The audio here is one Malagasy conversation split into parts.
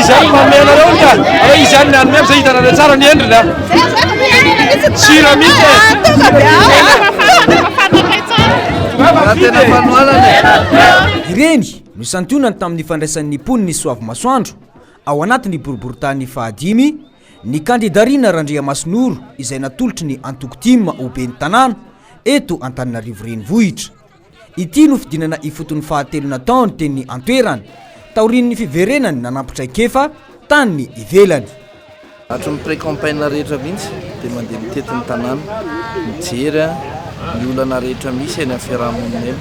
Izany manome anareo ny tany. Hoe izany mianome amin'izay hitanareo tsara ny endriny a. Sira mihitsy e. Ireny no santionany tamin'ny fandraisan'ny mponina i Soavimasoandro. Ao anatin'ny boriborintany fahadimy, ny kandida Rina Randriamasinoro izay natolotry ny antoko tim ho ben'ny tanàna eto Antananarivo Renivohitra. Ity no fidinana ifotony fahatelo nataony teny an-toerana, taorian'ny fiverenany nanampi-traikefa tany ivelany. Hatry ny pré-campagne rehetra mihitsy dia mandeha mitety ny tanàna, mijery ny olana rehetra misy eny amin'ny fiarahamonina eny.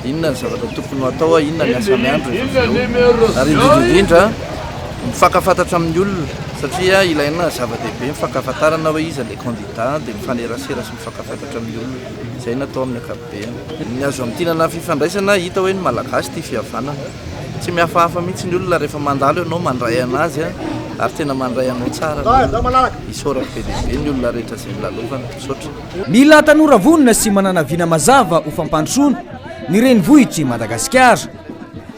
Inona ny zavatra tokony ho atao, inona ny asa miandry rehefa avy eo ary indrindra indrindra mifankafantatra amin'ny olona satria ilaina zava-dehibe mifankafantarana hoe iza ilay candidat dia mifanerasera sy mifankafantatra amin'ny olona. Izay no atao amin'ny ankapobeny. Ny azo amintinana fifandraisana hita hoe ny malagasy tia fihavanana. Tsy mihafahafa mihitsy ny olona rehefa mandalo ianao mandray anazy a! ary tena mandray anao tsara ny olona. Isaorako be dia be ny olona rehetra izay nilalovana. Misaotra. Mila tanora vonona sy manana vina mazava ho fampandrosoana ny renivohitr'i Madagasikara.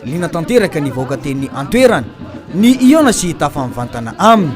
Liana tanteraka ny vahoaka teny an-toerana, ny hihaona sy hitafa mivantana aminy.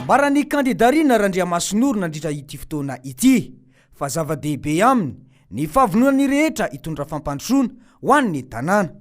Ambaran'ny kandida Rina Randriamasinoro nandritra ity fotoana ity fa zava-dehibe aminy ny fahavononan'ny rehetra hitondra fampandrosoana ho an'ny tanàna.